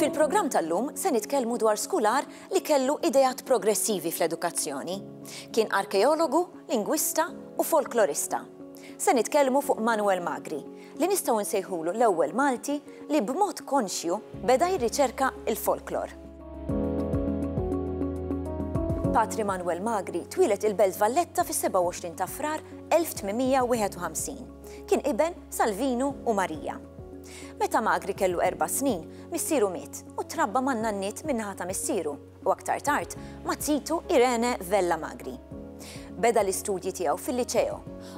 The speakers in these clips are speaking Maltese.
Fil-programm tal-lum se nitkellmu dwar skular li kellu idejat progressivi fl-edukazzjoni. Kien arkeologu, lingwista u folklorista. Se nitkellmu fuq Manuel Magri, li nistgħu nsejħulu l-ewwel Malti li b'mod konxju beda jirriċerka l-folklor. Patri Manwel Magri twieled il-Belt Valletta fis-27 ta' Frar 1851. Kien iben Salvinu u Marija. Meta Magri kellu erba' snin, missieru miet u trabba man-nanniet min-naħa ta' missieru, u aktar tard ma' Titu Irene Vella Magri. Beda l-istudji tiegħu fil-Liċeo,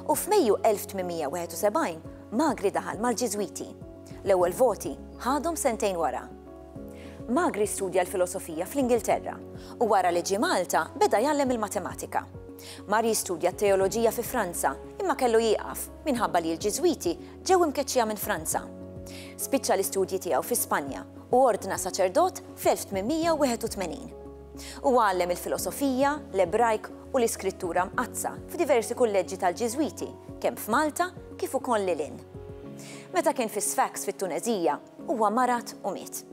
u f'Mejju 1871 Magri daħal mal-Ġiżwiti. L-ewwel voti ħadhom sentejn wara. Magri studja l-filosofija fl-Ingilterra, u wara li ġie Malta beda jgħallem il-matematika. Mar jistudja t-teoloġija fi Franza, imma kellu jieqaf minħabba li l-Ġiżwiti Ġew imkeċċija minn Franza. Spiċċa l-istudji tiegħu fi Spanja u ordna saċerdot fl-1881. Huwa għallem il-filosofija, l-Ebrajk u l-Iskrittura Mqaddsa f'diversi kulleġġi tal-Ġiżwiti kemm f'Malta kif ukoll lil hinn. Meta kien fi Sfax fit-Tuneżija, huwa marad u miet.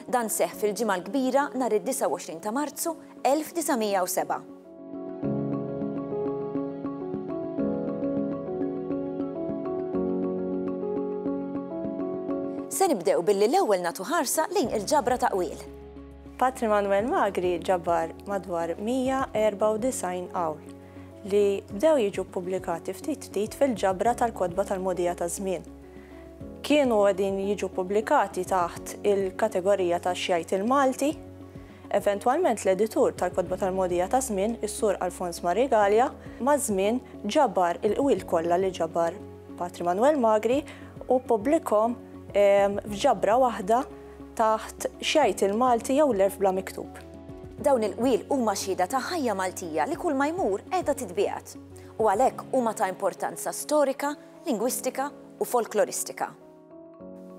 Dan seħħ fil-Ġimgħa l-Kbira nhar id-29 ta' Marzu 1907. Se nibdew billi l-ewwel nagħtu ħarsa lejn il-ġabra ta' qwiel. Patri Manuel Magri ġabar madwar 194 qawl li bdew jiġu ppubblikati ftit ftit fil-ġabra tal-kotba tal-modija ta' żmien. Kienu qegħdin jiġu ppubblikati taħt il-kategorija ta' xjajt il-Malti, Eventwalment l-editur tal-kotba tal-mogħdija taż-żmien, is-Sur Alfons Marie Galea, maż-żmien ġabar il-qwil kollha li ġabar Patri Manwel Magri u ppubblikhom f'ġabra waħda taħt X'Jgħid il-Malti jew L-Għerf Bla Miktub. Dawn il-qwiel huma xhieda ta' ħajja Maltija li kulma jmur qiegħda titbiegħed u għalhekk huma ta' importanza storika, lingwistika u folkloristika.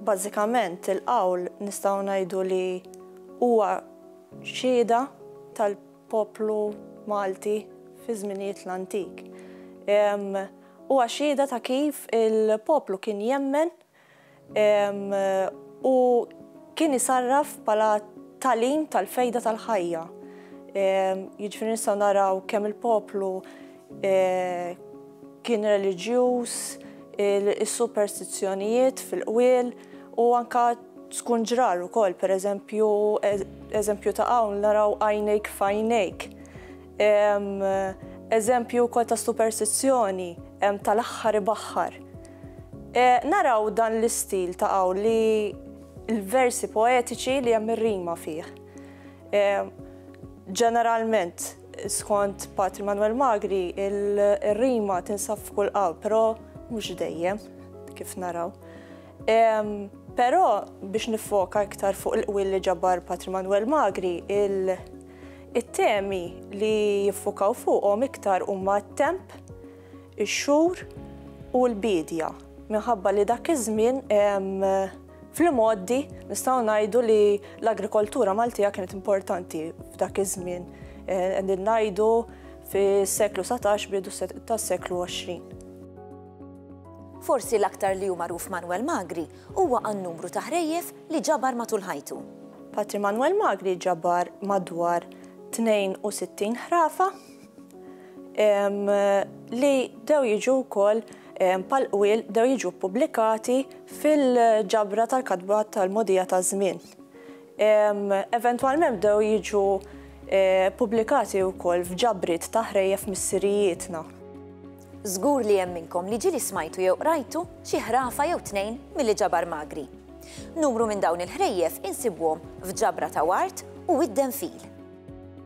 Bażikament il-qawl nistgħu ngħidu li huwa xhieda tal-poplu Malti fi żminijiet l-antik. Huwa xhieda ta' kif il-poplu kien jemmen u kien isarraf bħala tagħlim tal-fejda tal-ħajja. Jiġifieri nistgħu naraw kemm il-poplu kien reliġjuż, is-superstizzjonijiet fil-qwiel u anke tkun ġrar ukoll, pereżempju eżempju ta' hawn naraw għajnejk f'għajnejk. Eżempju wkoll ta' superstizzjoni hemm tal-aħħar ibaħħar. Naraw dan l-istil ta' hawn li l-versi poetiċi li hemm ir-rima fih. Ġeneralment Skont Patri Manuel Magri, il-rima tinsab f'kull qalb, però mhux dejjem, kif naraw. Però biex nifoka iktar fuq il-qwil li ġabar Patri Manuel Magri, it-temi li jiffukaw fuqhom iktar huma t-temp, ix-xhur u l-biedja, minħabba li dak iż-żmien Fl-imgħoddi nistgħu ngħidu li l-agrikoltura Maltija kienet importanti f'dak iż-żmien. Qegħdin eh, ngħidu fis-seklu 17 bidu tas-seklu 20. Forsi l-aktar li hu magħruf Manuel Magri huwa għan numru ta' ħrejjef li ġabar matul ħajtu. Patri Manuel Magri ġabar madwar 62 ħrafa li dew jiġu wkoll bħal qwiel bdew jiġu ppubblikati fil-ġabra tal-katba tal-mogħdija taż-żmien. Eventwalment bdew jiġu ppubblikati wkoll f'ġabriet ta' ħrejjef missirijietna. Żgur li hemm minnkom li ġieli smajtu jew qrajtu xi ħrafa jew tnejn milli ġabar Magri. Numru minn dawn il-ħrejjef insibuhom f'ġabra ta' wart u wid-denfil.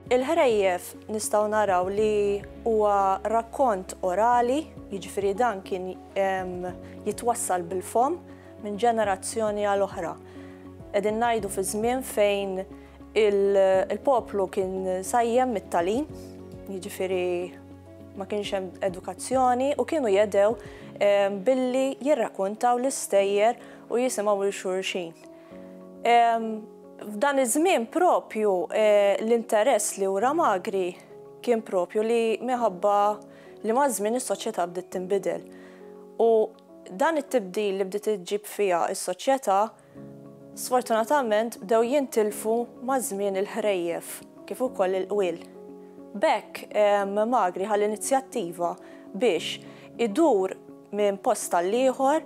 Il-ħrejjef nistgħu naraw li huwa rakkont orali, jiġifieri dan kien jitwassal bil-fomm minn ġenerazzjoni għal oħra. Qegħdin ngħidu fi żmien fejn il-poplu kien sajjem mit-talim, jiġifieri ma kienx hemm edukazzjoni u kienu jedew billi jirrakuntaw l-istejjer u jisimgħu lil xulxin. F'dan iż-żmien proprju l-interess li wra Magri kien proprju li minħabba li maż-żmien is-soċjetà bdiet tinbidel. U dan it-tibdil li bdiet iġġib fiha s-soċjetà, sfortunatament bdew jintilfu maż-żmien il-ħrejjef kif ukoll il-qwiel. B'hekk Magri ħa l-inizjattiva biex idur minn post għall-ieħor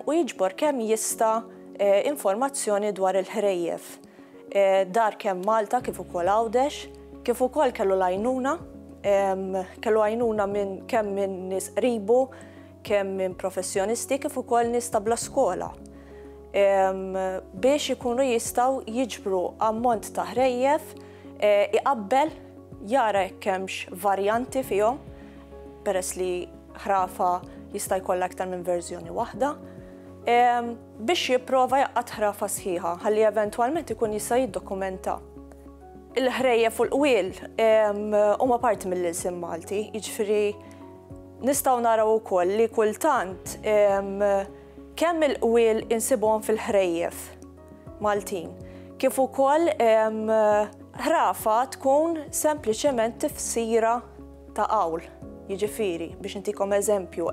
u jiġbor kemm jista' informazzjoni dwar il-ħrejjef dar kemm Malta kif ukoll Għawdex, kif ukoll kellu l-għajnuna, kellu għajnuna minn kemm minn nies qribu, kemm minn professjonisti kif ukoll nies ta' bla skola biex ikunu jistgħu jiġbru ammont ta' ħrejjef iqabbel jara jekk hemmx varjanti fihom peress li ħrafa jista' jkollha aktar minn verżjoni waħda. biex jipprova jaqgħad ħrafa sħiħa ħalli eventwalment ikun jista' jiddokumenta. Il-ħrejjef u l-qwiel huma parti mill-ilsien Malti, jiġifieri nistgħu naraw ukoll li kultant kemm il-qwiel insibuhom fil-ħrejjef Maltin, kif ukoll ħrafa tkun sempliċement tifsira ta' qawl. Jiġifieri, biex intikom eżempju,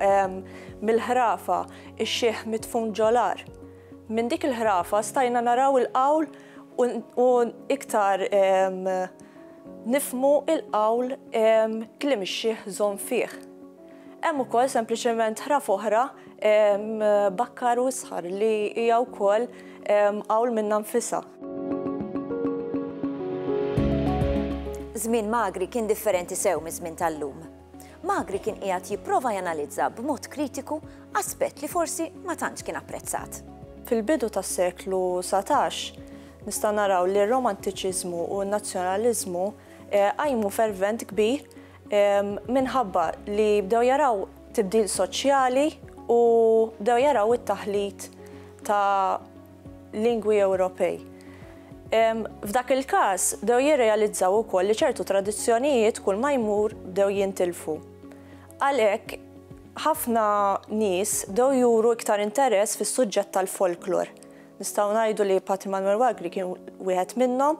mill-ħrafa ix-xieħ mitfun ġolar. Minn dik il-ħrafa stajna naraw il-qawl u iktar nifmu il-qawl kliem ix-xieħ żomm fih. Hemm ukoll sempliċement ħraf oħra, bakkar u isħar, li hija wkoll qawl minnha nfisha. Żmien Magri kien differenti sew miż-żmien tal-lum. Magri kien qiegħed jipprova janalizza b'mod kritiku aspett li forsi ma tantx kien apprezzat. Fil-bidu tas-seklu satax, nistgħu naraw li r-Romantiċiżmu u n-Nazzjonaliżmu qajmu fervent kbir minħabba li bdew jaraw tibdil soċjali u bdew jaraw it-taħlit ta' lingwi Ewropej. F'dak il-każ bdew jirrealizzaw ukoll li ċertu tradizzjonijiet kull ma jmur bdew jintilfu. Għalhekk ħafna nies bdew juru iktar interess fis-suġġett tal-folklor. Nistgħu ngħidu li Patri Manwel Wagri kien wieħed minnhom.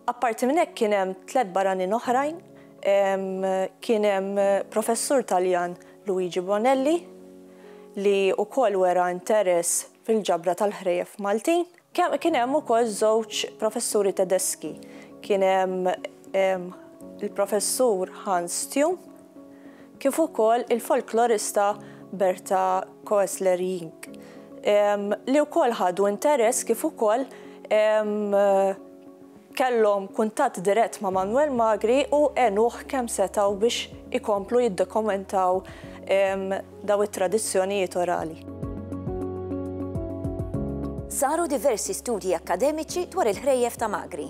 Apparti minn hekk kien hemm tliet barranin oħrajn, kien hemm professur Taljan Luigi Bonelli li wkoll wera interess fil-ġabra tal-ħrejjef Maltin. Kien hemm ukoll żewġ professuri Tedeski. Kien hemm il-professur Hans Thium kif ukoll il-folklorista Berta Koestler-Jink, li wkoll ħadu interess kif ukoll kellhom kuntatt dirett ma' Manwel Magri u għenuh kemm setgħu biex ikomplu jiddokumentaw dawn it-tradizzjonijiet orali. Saru diversi studji akkademiċi dwar il-ħrejjef ta' Magri.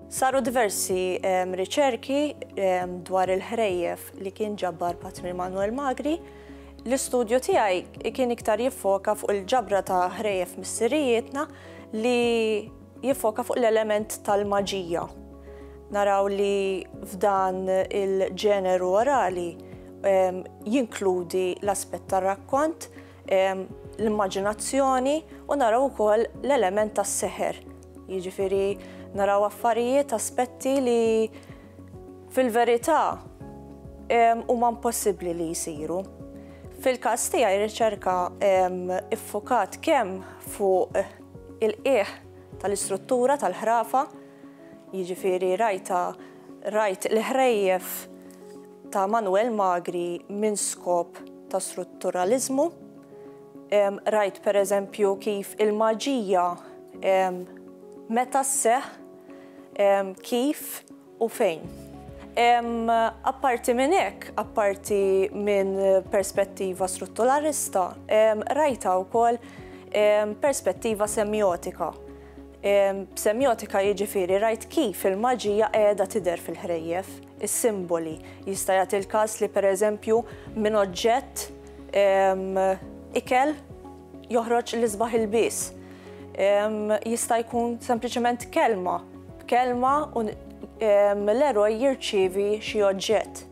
Saru diversi riċerki dwar il-ħrejjef li kien ġabbar Patri Manuel Magri. L-istudju tiegħi kien iktar jiffoka fuq il-ġabra ta' ħrejjef missirijietna li jiffoka fuq l-element tal-maġija. Naraw li f'dan il-ġeneru orali jinkludi l-aspett tar-rakkont, l-immaġinazzjoni u naraw ukoll l-element tas-seħer. Jiġifieri naraw affarijiet, aspetti li fil-verità huma impossibbli li jsiru. Fil-każ tiegħi r-riċerka iffukat kemm fuq il-qiegħ tal-istruttura tal-ħrafa, jiġifieri rajta rajt l-ħrejjef ta' Manuel Magri minn skop ta' strutturaliżmu, Rajt pereżempju kif il-maġija meta sseħħ, kif u fejn. Apparti minn hekk, apparti minn perspettiva strutturalista, rajtha wkoll perspettiva semjotika. B'semjotika jiġifieri rajt kif il-maġija qiegħda tidher fil-ħrejjef, is-simboli. Jista' jagħti l-każ li pereżempju minn oġġett, Ikel joħroġ l-isbaħ ilbies. Jista' jkun sempliċement kelma. B'kelma l-eroj jirċievi xi oġġett.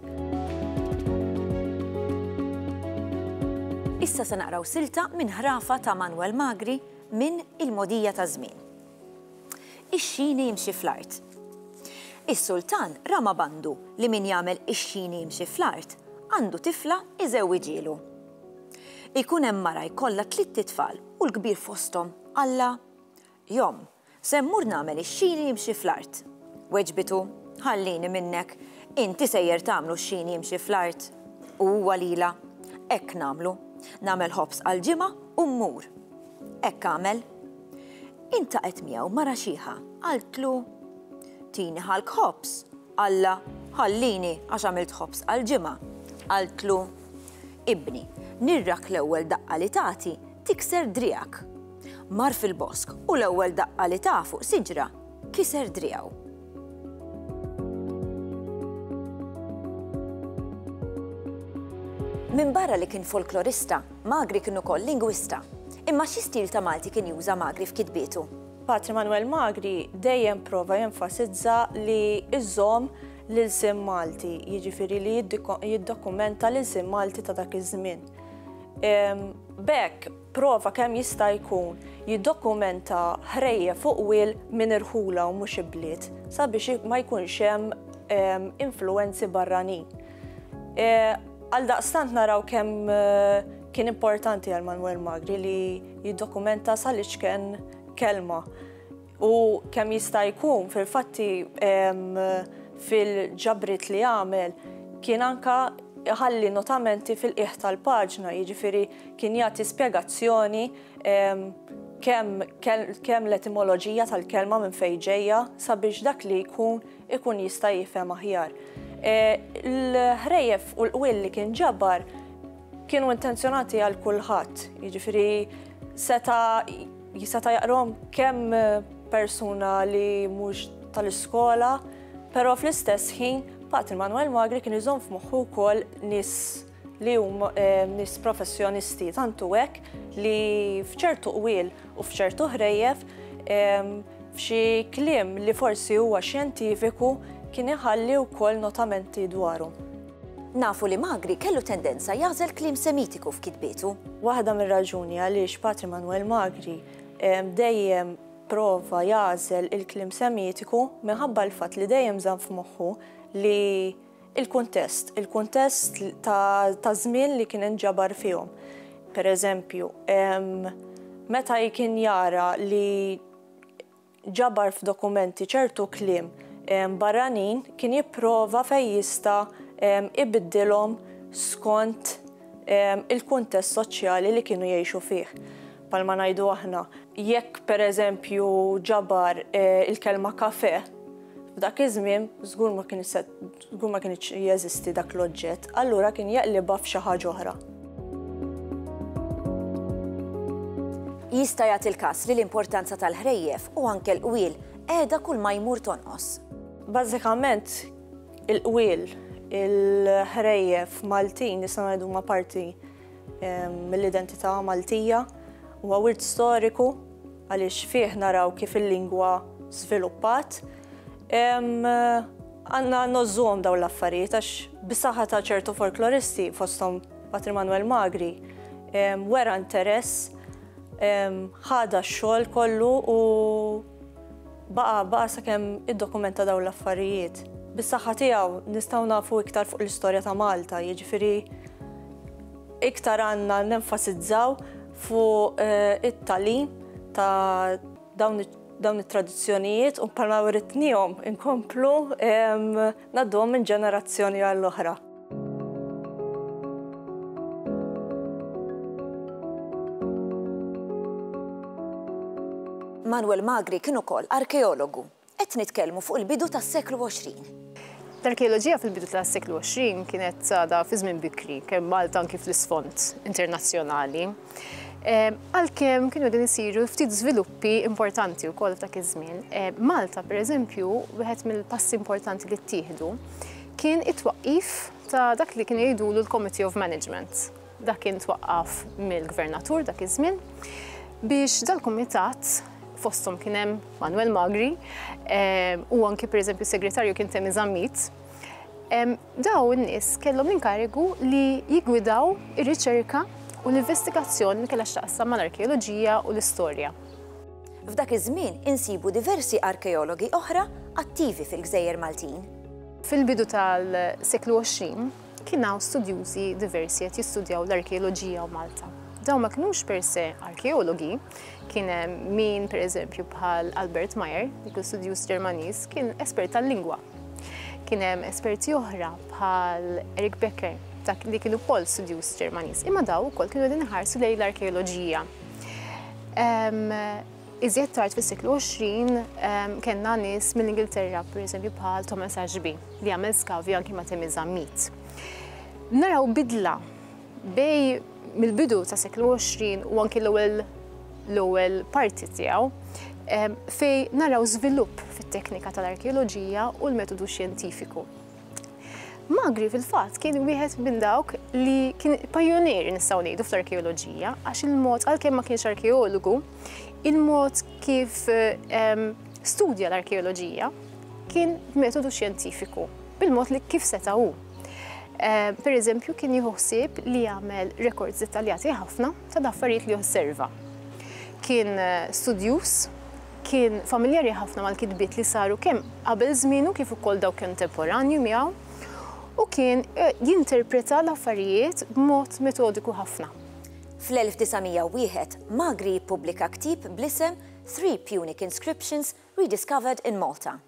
Issa se naqraw silta minn ħrafa ta' Manwel Magri minn Il-Mogħdija taż-Żmien. ix-xini jimxi fl-art. Is-sultan ra ma' bandu li min jagħmel ix-xini jimxi fl-art għandu tifla iżewwiġielu. Ikun hemm mara jkollha tlitt itfal u l-kbir fosthom qallha, Jom, se mmur nagħmel ix-xini jimxi fl-art. Weġbitu, Ħallini minnek, inti sejjer tagħmlu x-xini jimxi fl-art. U huwa lilha, Hekk nagħmlu. Nagħmel ħobż għall-ġimgħa u mmur. Hekk għamel. Intaqgħet miegħu mara xiħa, qaltlu, Tini ħalk ħobż. Qallha, Ħallini għax għamilt ħobż għall-ġimgħa. Qaltlu, Ibni, nirrak l-ewwel daqqa li tagħti tikser driegħek. Mar fil-bosk u l-ewwel daqqa li ta fuq siġra kiser driegħu. Minbarra li kien folklorista, Magri kien ukoll lingwista. Imma xi stil ta' Malti kien juża Magri f'kitbietu? Patri Manwel Magri dejjem prova jenfasizza li iżomm l-ilsien Malti, jiġifieri li jiddokumenta l-ilsien Malti ta' dak iż-żmien. B'hekk, Prova kemm jista' jkun jiddokumenta ħrejjef fuq wiel minn irħula u mhux ibliet sabiex ma jkunx hemm influwenzi barranin. Għaldaqstant naraw kemm kien importanti għal Manwel Magri li jiddokumenta sal-iċken kelma. U kemm jista' jkun fil-fatti fil-ġabriet li għamel kien anke iħalli notamenti fil-qiegħ tal-paġna, jiġifieri kien jagħti spjegazzjoni kemm l-etimoloġija tal-kelma minn fejn ġejja sabiex dak li jkun ikun jista' jifhem aħjar. Il-ħrejjef u l-qwiel li kien ġabar kienu intenzjonati għal kulħadd, jiġifieri seta' Jiseta' jaqrom kemm persuna li mhux tal-iskola, però fl-istess ħin Patri Manuel Magri kien iżomm f'moħħu wkoll nies li huma eh, nies professjonisti tantu hekk li f'ċertu qwiel u f'ċertu ħrejjef f'xi kliem li forsi huwa xjentifiku kien iħalli wkoll notamenti dwarhom. Nafu li Magri kellu tendenza jagħżel kliem Semitiku f'kitbietu. Waħda mir-raġuni għaliex Patri Manwel Magri dejjem prova jagħżel il-kliem Semitiku minħabba l-fatt li dejjem żamm f'moħħu li l-kuntest, il-kuntest ta' żmien li kien inġabar fihom. Pereżempju, meta kien jara li ġabar f'dokumenti ċertu kliem barranin kien jipprova fejn jista' ibiddilhom skont il-kuntest soċjali li kienu jgħixu fih. Bħalma ngħidu aħna, jekk pereżempju ġabar il-kelma kafè, f'dak iż-żmien żgur ma kien se Kieku ma kienx jeżisti dak l-oġġett, allura kien jaqlibha f'xi ħaġa oħra. Jista' jagħti l-każ li l-importanza tal-ħrejjef u anke l-qwiel qiegħda kull ma jmur tonqos. Bażikament, il-qwiel, il-ħrejjef Maltin nistgħu ngħidu huma parti mill-identità Maltija huwa wirt storiku għaliex fih naraw kif il-lingwa żviluppat. Għandna nożżuhom dawn l-affarijiet għax bisaħħa ta' ċertu folkloristi fosthom Patri Manuel Magri wera interess ħada x-xogħol kollu u Baqa' baqa' sakemm iddokumenta dawn l-affarijiet. Bis-saħħa tiegħu nistgħu nafu iktar fuq l-istorja ta' Malta, jiġifieri iktar għandna nenfasizzaw fuq it-tagħlim ta' dawn dawn it-tradizzjonijiet u bħalma writnihom inkomplu ngħadduhom minn ġenerazzjoni għall-oħra. Manuel Magri kien ukoll arkeologu. Qed nitkellmu fuq il-bidu tas-seklu 20. L-arkeoloġija fil-bidu tas-seklu 20 kienet sada fi żmien bikri, kemm Malta anki fl-isfond internazzjonali. Ehm, għalkemm kienu din isiru ftit żviluppi importanti wkoll f'dak iż-żmien. Ehm, Malta, pereżempju, wieħed mill-passi importanti li ttieħdu kien it-twaqqif ta' dak li kienu jgħidulu l-Committee of Management. Dak kien twaqqaf mill-Gvernatur dak iż-żmien biex dal-kumitat fosthom kien hemm Manuel Magri ehm, u anki pereżempju segretarju kien Temi Zammit. Ehm, daw in-nies kellhom l-inkarigu li jigwidaw ir-riċerka u l-investigazzjoni li kellha x'taqsam mal-arkeoloġija u l-istorja. F'dak iż-żmien insibu diversi arkeologi oħra attivi fil-gżejjer Maltin. Fil-bidu tal-seklu 20, kien hawn studjużi diversi qed jistudjaw l-arkeoloġija u Malta. Dawn ma kinux per se arkeologi, kien hemm min pereżempju bħal Albert Meyer, li kien studjuż Ġermaniż, kien espert tal-lingwa. Kien hemm esperti oħra bħal Eric Becker, dak li kien ukoll studjuż Ġermaniż, imma daw ukoll kienu qegħdin iħarsu lejn l-arkeoloġija. Iżjed tard fis-seklu 20 kellna nies mill-Ingilterra, pereżempju bħal Thomas Ashby, li għamel skavi anki ma' Temi Zammit. Naraw bidla bej mill-bidu ta' seklu 20 u anki l-ewwel l-ewwel parti tiegħu fej naraw żvilupp fit-teknika tal-arkeoloġija u l-metodu xjentifiku. Magri fil-fatt kien wieħed minn dawk li kien pajjunier nistgħu ngħidu fl-arkeoloġija għax il-mod għalkemm ma kienx arkeologu, il-mod kif ehm, studja l-arkeoloġija kien metodu xjentifiku bil-mod li kif seta' hu. Ehm, per eżempju, kien jieħu ħsieb li jagħmel rekords dettaljati ħafna ta' daffarijiet li osserva. Kien eh, studjuż Kien familjari ħafna mal-kitbiet li saru kemm qabel żmienu kif ukoll dawk kontemporanji miegħu u kien jinterpreta l-affarijiet b'mod metodiku ħafna. Fl-1901, Magri jippubblika ktieb bl-isem Three Punic Inscriptions Rediscovered in Malta.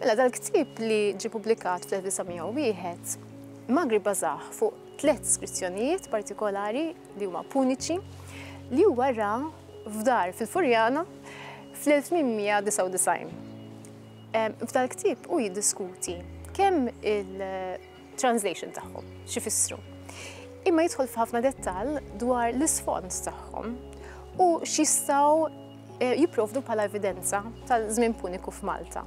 Mela dal-ktieb li ġie pubblikat fl-1901, Magri bażah fuq tliet skrizzjonijiet partikolari li huma puniċi li huwa ra f'dar fil-Furjana fl-1899. F'dal-ktieb hu jiddiskuti kemm il- translation tagħhom, x'ifissru. Imma jidħol f'ħafna dettall dwar l-isfond tagħhom u x'jistgħu eh, jipprovdu bħala evidenza tal-żmien puniku f'Malta.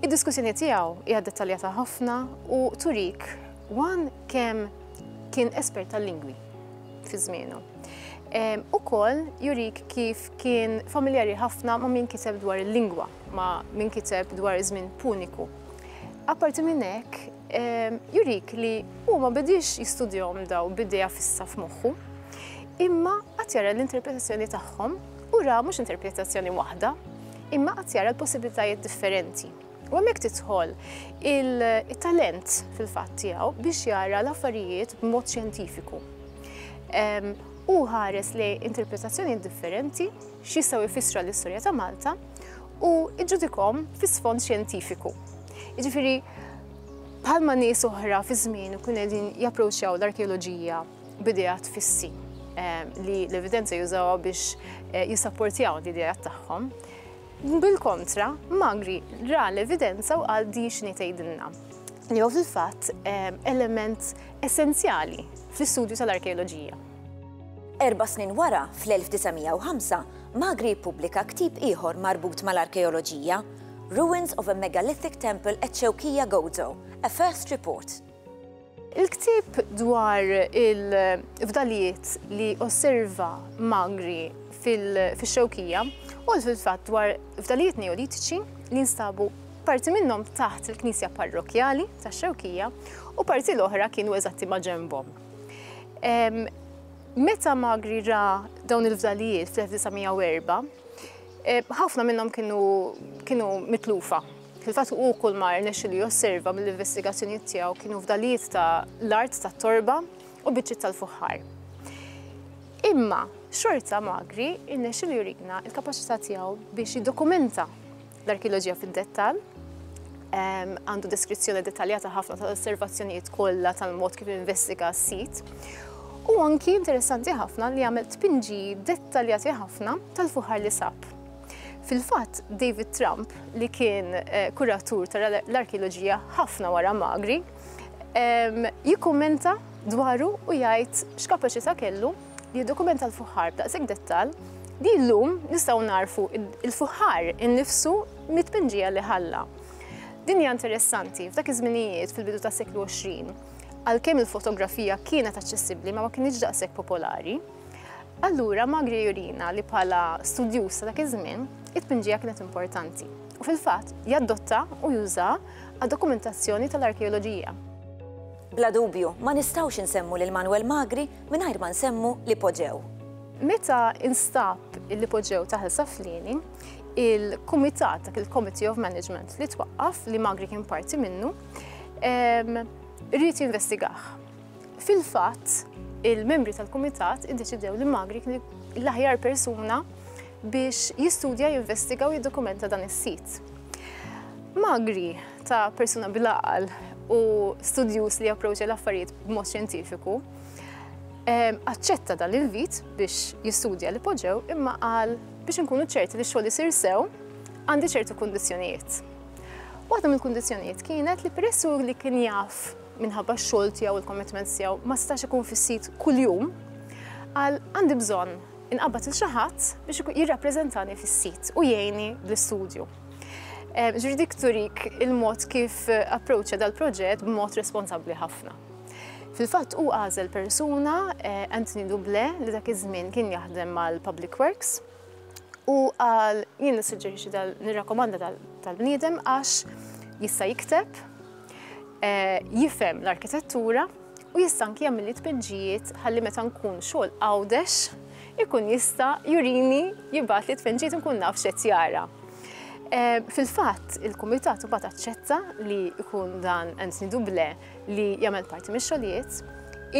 Id-diskussjoni tiegħu hija dettaljata ħafna u turik wan kemm kien espert tal-lingwi fi żmienu. U koll jurik kif kien familjari ħafna ma' min kiteb dwar il-lingwa, ma' min kiteb dwar iż-żmien puniku. Apparti minn hekk, ehm, jurik li hu ma bidiex jistudjahom daw b'idea fissa f'moħħu, imma qatt jara l-interpretazzjoni tagħhom u ra mhux interpretazzjoni waħda, imma qatt jara l-possibilitajiet differenti. U hemmhekk tidħol il-talent fil-fatt tiegħu biex jara l-affarijiet b'mod xjentifiku. U ħares li interpretazzjoni differenti x'jistgħu jfissra l-istorja ta' Malta u iġġudikhom fi sfond xjentifiku. Jiġifieri bħalma nies oħra fi żmien ikun qegħdin japproċċjaw l-arkeoloġija b'idejat fissi eh, li l-evidenza jużawha biex eh, jissapportjaw l-idejat tagħhom. Bil-kontra, Magri ra l-evidenza u għal di xni tgħidilna li hu fil-fatt eh, element essenzjali fl-istudju tal-arkeoloġija. Erba' snin wara, fl-1905, Magri ppubblika ktieb ieħor marbut mal-arkeoloġija, Ruins of a Megalithic Temple at Shewkija Gozo, A First Report. Il-ktieb dwar il-fdalijiet li osserva Magri fix-Xewkija huwa fil-fatt dwar fdalijiet Neolitiċi li nstabu parti minnhom taħt il-knisja parrokkjali tax-Xewkija u parti l-oħra kienu eżatti ma' ġenbhom. Meta Magri ra dawn il-fdalijiet fl-1904, ħafna minnhom kienu mitlufa. Fil-fatt u kull mar nexxu li josserva mill-investigazzjonijiet tiegħu kienu fdalijiet ta' l-art ta' torba u biċċiet tal-fuħħar. Imma xorta Magri rnexxu li jurina l-kapaċità tiegħu biex jiddokumenta L-arkeoloġija fid-dettall għandu deskrizzjoni dettaljata ħafna tal-osservazzjonijiet kollha tal-mod kif investiga s-sit. U anki interessanti ħafna li għamel tpinġi dettaljati ħafna tal-fuħar li sab. Fil-fatt, David Trump, li kien eh, kuratur tal-arkeoloġija ħafna wara Magri, jikkummenta dwaru u jgħid x'kapaċità kellu li jiddokumenta l-fuħħar b'daqshekk dettall li llum nistgħu nagħrfu l-fuħħar innifsu mit-tpinġija li ħalla. Din hija interessanti f'dak iż-żminijiet fil-bidu tas-seklu 20, għalkemm il-fotografija kienet aċċessibbli ma ma kinitx daqshekk popolari. Allura Magri jurina li bħala studjuż ta' dak iż-żmien, it-tpinġija kienet importanti. U fil-fatt jaddotta u juża għad dokumentazzjoni tal-arkeoloġija. Bla dubju, ma nistgħux insemmu lil Manuel Magri mingħajr ma nsemmu l-ipoġew. Meta instab l-ipoġew ta' Ħel Saflieni, il-kumitat, dak il-Committee of Management li twaqqaf, li Magri kien parti minnu, rrid jinvestigah. Fil-fatt, il-membri tal-kumitat iddeċidew li Magri kien l-aħjar persuna biex jistudja, jinvestiga u jiddokumenta dan is-sit. Magri ta' persuna bil-aqal u studjus li approċċa l-affarijiet b'mod xjentifiku, ehm, aċċetta dan l-invit biex jistudja li poġġew imma qal biex nkunu ċerti li xogħol isir sew għandi ċertu kundizzjonijiet. Waħda mill-kundizzjonijiet kienet li peressu li kien jaf minħabba x-xogħol tiegħu il-commitments tiegħu ma stax ikun fis-sit kuljum, għal għandi bżonn inqabad il xaħat biex jirrappreżentani fis-sit u jgħini bl-istudju. Eh, ġuri dik turik il-mod kif approċċa dal-proġett b'mod responsabbli ħafna. Fil-fatt u għażel persuna eh, Anthony Duble li dak iż-żmien kien jaħdem mal-Public Works u għal jien nissuġġerixxi nirrakkomanda tal-bniedem għax jista' jikteb jifhem l-arkitettura u jista' anki jagħmel li tpenġijiet ħalli meta nkun xogħol għawdex ikun jista' jurini jibgħat li tpenġijiet nkun naf x'qed jara. Eh, fil-fatt, il-Kumitat imbagħad aċċetta li jkun dan Anthony Duble li jagħmel parti mix-xogħlijiet,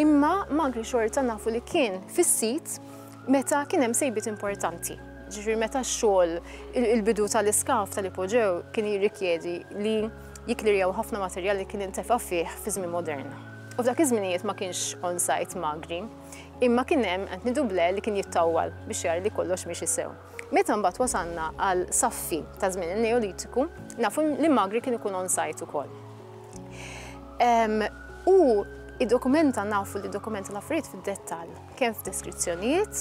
imma magri xorta nafu li kien fis-sit meta kien hemm sejbiet importanti. Ġifieri meta x-xogħol il-bidu tal-iskaf tal-ipoġew kien jirrikjedi li Jikklerjaw ħafna materjal li kien intefa' fih fi żmien modern. U f'dak iż-żminijiet ma kienx on-site magri, imma kien hemm qed nidu ble li kien jittawwal biex jara li kollox miexi sew. Meta mbagħad wasalna għal saffi ta' żmien in-Neolitiku, nafu li magri kien ikun on-site ukoll. U id-dokumenta nafu li dokumenta l-affarijiet fid-dettall, kemm f'deskrizzjonijiet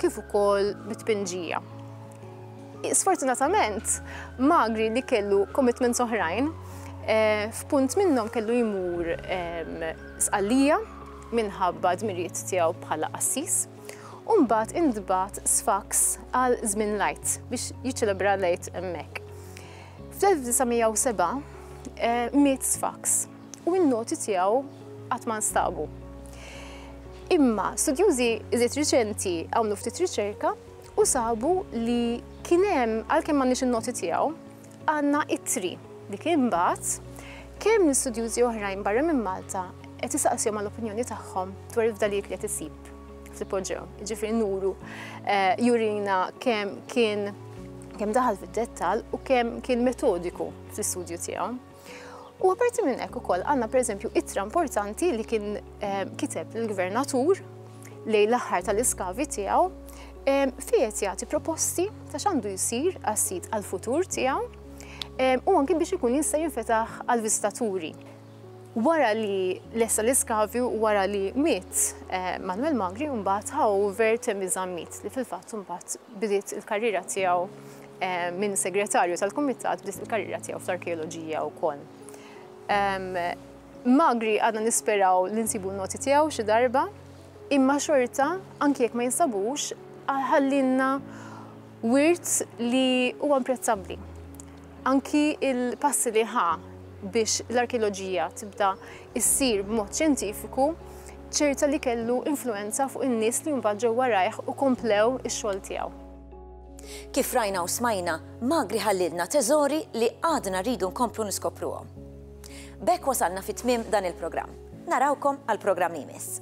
kif ukoll bit-tpinġija. Sfortunatament, Magri li kellu commitments oħrajn, f'punt minnhom kellu jmur Sqallija minħabba dmirijiet tiegħu bħala qassis, u mbagħad intbagħat Sfax għal żmien l-Għid biex jiċċelebra l-Għid hemmhekk. Fl-1907 miet Sfax u n-noti tiegħu qatt ma nstabu. Imma studjużi iżjed riċenti għamlu ftit riċerka u sabu li kien hemm, għalkemm m'għandniex in-noti tiegħu, għandna ittri li kien mbagħat kemm l-istudjużi oħrajn barra minn Malta qed isaqsihom għal opinjoni tagħhom dwar il-fdalijiet li qed isib fl-ipoġġew. Ġifieri nuru eh, jurina kemm kien kemm daħal fid-dettal u kemm kien metodiku fl-istudju tiegħu. U apparti minn hekk ukoll għandna pereżempju ittra importanti li kien eh, kiteb l-gvernatur lejn l-aħħar tal-iskavi tiegħu eh, fijet jagħti proposti ta' x'għandu jsir għas-sit għall-futur tiegħu eh, u anki biex ikun jista' jinfetaħ għall-viżitaturi. Wara li lessa l-iskavi u wara li miet Manuel Magri mbagħad ħaw Vert Mizammit li fil-fatt mbagħad bidiet il-karriera tiegħu minn segretarju tal-kumitat bdiet il-karriera tiegħu fl-arkeoloġija wkoll. Magri għadna nisperaw li nsibu noti tiegħu xi darba, imma xorta anki jekk ma jinsabux ħallinna wirt li huwa imprezzabbli. Anki il-passi li ħa biex l-arkeoloġija tibda issir b'mod xjentifiku ċerta li kellu influenza fuq in-nies li mbagħad ġew warajh u komplew ix-xogħol tiegħu. Kif rajna u smajna, Magri ħallielna teżori li għadna rridu nkomplu niskopruhom. B'hekk wasalna fi tmiem dan il-programm. Narawkom għall-programm li jmiss.